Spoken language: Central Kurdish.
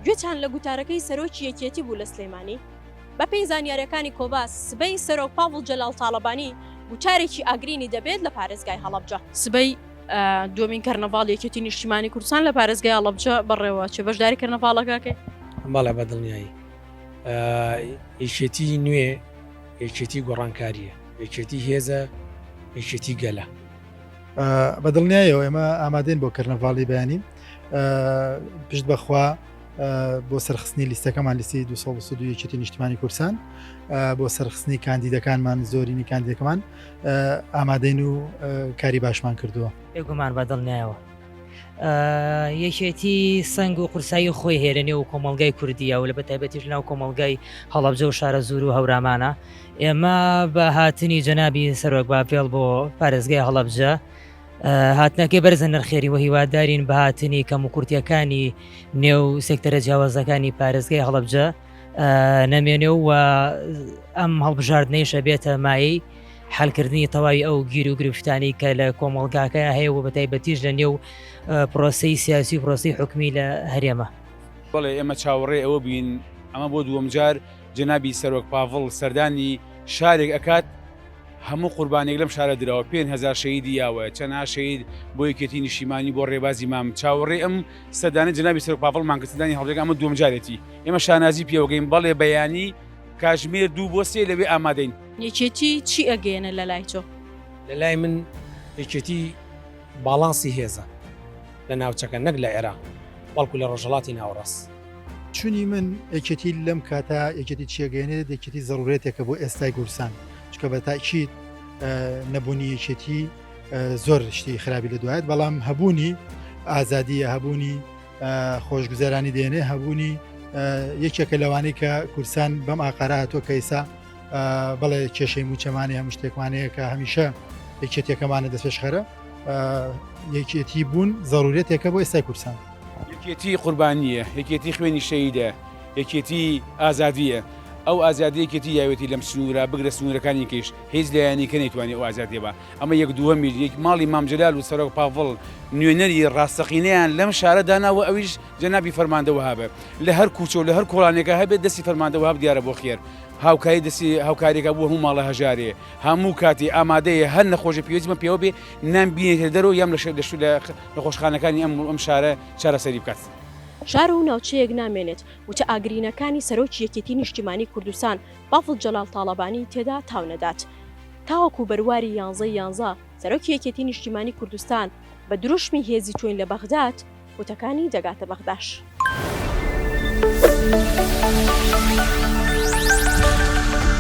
گوێچان لە گوتارەکەی سەرۆکی یەکێتی بوو لە سلێمانی. بەپێی زانیارییەکانی کۆبا، سبەی سەرۆک پاڤڵ جەلال تاڵەبانی گوتارێکی ئاگرینی دەبێت لە پارێزگای هەڵەبجە. سبەی دووەمین کەرنەڤاڵی یەکێتی نیشتیمانی کوردستان لە پارێزگای هەڵەبجە بەڕێوەچێ، بەشداری کەرنەڤاڵەکەکەی؟ بەڵێ بە دڵنیایی. یەکێتی نوێ یەکێتی گۆڕانکارییە، یەکێتی هێزە، یەکێتی گەلە. بە دڵنیایەوە ئێمە ئامادەین بۆ کەرنەڤاڵی بەیانی پشت بەخوا بۆ سەرخستنی لیستەکەمان لیستی 1970 نیشتمانی کورسان بۆ سەرخستنی کاندیدەکانمان زۆرینی کاندیدەکەمان ئامادەین و کاری باشمان کردووە بێگومان بە دڵنیایەوە یەکێتی سنگ و قورسایی خۆی هێرە نێو و کۆمەلگای کوردیە و لە بە تایبەتیش ناو کۆمەلگای هەڵبجە و شارە زور و هەورامانە ئێمە بە هاتنی جەنابی سەرۆک باپێڵ بۆ پارێزگای هەڵەبجە هاتنەکەی بەرزە نرخێری و هیوادارین بە هاتنی کەم و کورتەکانی نێو سێکتەرە جیاوازەکانی پارێزگای هەڵەبجە نەمێنێ و ئەم هەڵبژاردنەی شەبێتە مایی حلکردنی تەواوی ئەو گیر و گرفتانی کە لە کۆمەڵگاکە هەیە و بەتایبەتیش لە نێو پرۆسی سیاسی و پرۆسی حکومی لە هەرێمە بڵێ ئێمە چاوەڕێ ئەوە بین ئەمە بۆ دووەمجار جەنابی سەرۆک پاڤڵ سەردانی شارێک ئەکات هەموو قوربانێک لەم شارە دراوە پێنج هەزار شەهیدی یاوەیە چەنها شەهید بۆ یەکێتی نیشیمانی بۆ ڕێبازی مام چاوەڕێ ئەم سەردانی جەنابی سەرۆک پاڤڵ مانگرتدانی هەڵبجەکە ئەمە دووەم جارێتی ئێمە شانازی پێوەگەین بەڵێ بەیانی کاژمێر دوو بۆ سێ لەوێ ئامادەین. یەکێتی چی ئەگەیەنێت لەلای تۆ؟ لەلای من یەکێتی باڵانسی هێزە لە ناوچەکە نەک لە عێراق بەڵکو لە ڕۆژهەڵاتی ناوەڕاست. چونی من یەکێتی لەم کاتا یەکێتی چێگەێنێت یەکێتی زەڕورێتێکە بۆ ئێستای گورسان چکە بە تاکییت نەبوونی یەکێتی زۆر شتی خراپی لە دوایت بەڵام هەبوونی ئازادیە هەبوونی خۆشگوزەرانی دێنێ هەبوونی یەکێکە لەوانەی کە کورسان بەم ئاقارە هاتۆ کەیسا بەڵێ کێشەی موچەمانی هەم شتێکمانەیە کە هەمیشە یەکێتەکەمانە دەستێشخەرە یەکێتی بوون زەڕورێتێکە بۆ ئێستای کوردستان یەکێتی قوربانیە یەکێتی خوێنی شەیدە یەکێتی ئازادیە ئەو ئازادیەکێتی یاوێتی لەم سنوورە بگرە سنوورەکانی کەش هیچ لایەنی کە نەیتوانانی ئەو ئازادیە بە ئەمە یەک دووە میلیک ماڵی مامجلال و سەرۆک پاڤڵ نوێنەری ڕاستەقینەیان لەم شارە داناوە ئەویش جەنابی فەرماندەوە هابێت لە هەر کوچە و لە هەر کۆڵانێکە هەبێت دەستی فەرماندەوە هەب دیارە بۆ خێر هاوکاری دەستی هاوکاریەکە بوو هەموو ماڵە هەژارێ هەموو کاتی ئامادەیە هەر نەخۆشی پێویستمە پێوە بێ نام بینێتە دەرەوە یام لە شەر دەشت لە نەخۆشخانەکانی ئەم ئەم شارە چارەسەری بکات. شار و ناوچەیەک نامێنێت وتە ئاگرینەکانی سەرۆکی یەکێتی نیشتیمانی کوردستان بافڵ جەلال تاڵەبانی تێدا تاو نەدات. تاوەکو بەرواری یانزەی یانزە سەرۆکی یەکێتی نیشتیمانی کوردستان بە دروشمی هێزی تۆین لە بەغداد وتەکانی دەگاتە بەغداش.